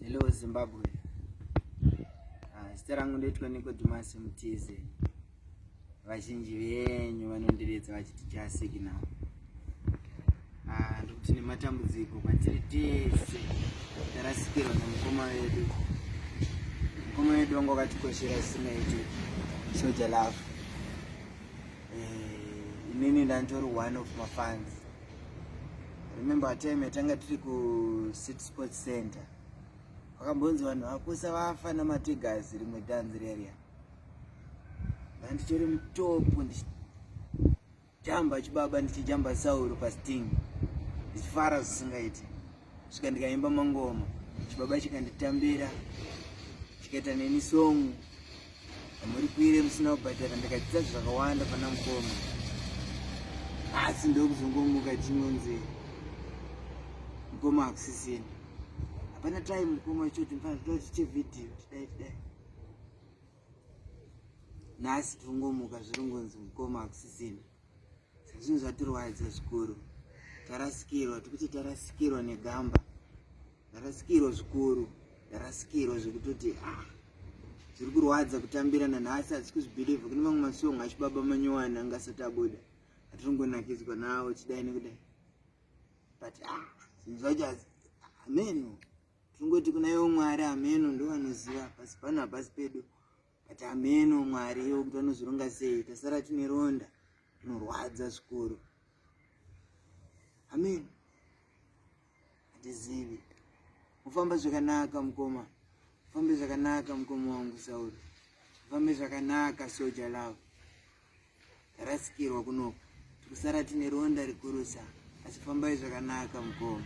Hello Zimbabwe. Ah, zita rangu ndoitwa Nicodemus Mutize. Vazhinji venyu vanondiredza vachiti chasiki now. Ah, ndokuti nematambudziko kwatiri tese tarasikirwa nemukoma wedu. Mukoma wedu wangu wakatikoshera zvisingaiti soja love. Eh, inini ndantori one of mafans Remember time yatanga tiri kuCity Sports Center. Wakambonzi vanhu vakusa vafa namatigers rimwe dance reria. Ndanditori mutopu ndichijamba chibaba ndichijamba sauro pasting. Ndichifara zvisingaiti. svika ndikaimba mangoma chibaba chikanditambira chikaita neni song amuri kuire musina kubhadhara ndikadzidza zvakawanda pana mukoma asi ndokuzongomuka chinonzi mukoma akusisini hapana time mukoma choti mfana toda chiche video tidai tidai nhasi tongomuka zviringonzi mukoma akusisini Zvinhu zvatirwadza zvikuru. Tarasikirwa, tikuti tarasikirwa negamba. Tarasikirwa zvikuru. Tarasikirwa zvekutoti ah zviri kurwadza kutambira nanhasi asi kuzvibhilivha kune mamwe masong achibaba manyowani anga asati abuda atiringonakidzwa nawo chidai nekudai but ah, zvinhu zvacho hameno tingoti kuna yo mwari hameno ndovanoziva pasi pano hapasi pedu but ameno mwari iwo kuti vanozvironga sei tasara tine ronda rinorwadza zvikuru amen hatizivi mufamba zvakanaka mukoma mufambe zvakanaka mukoma wangu sauri mufambe zvakanaka soja lavo tarasikirwa kunoko tikusara tine ronda rikurusa asi fambai zvakanaka mukoma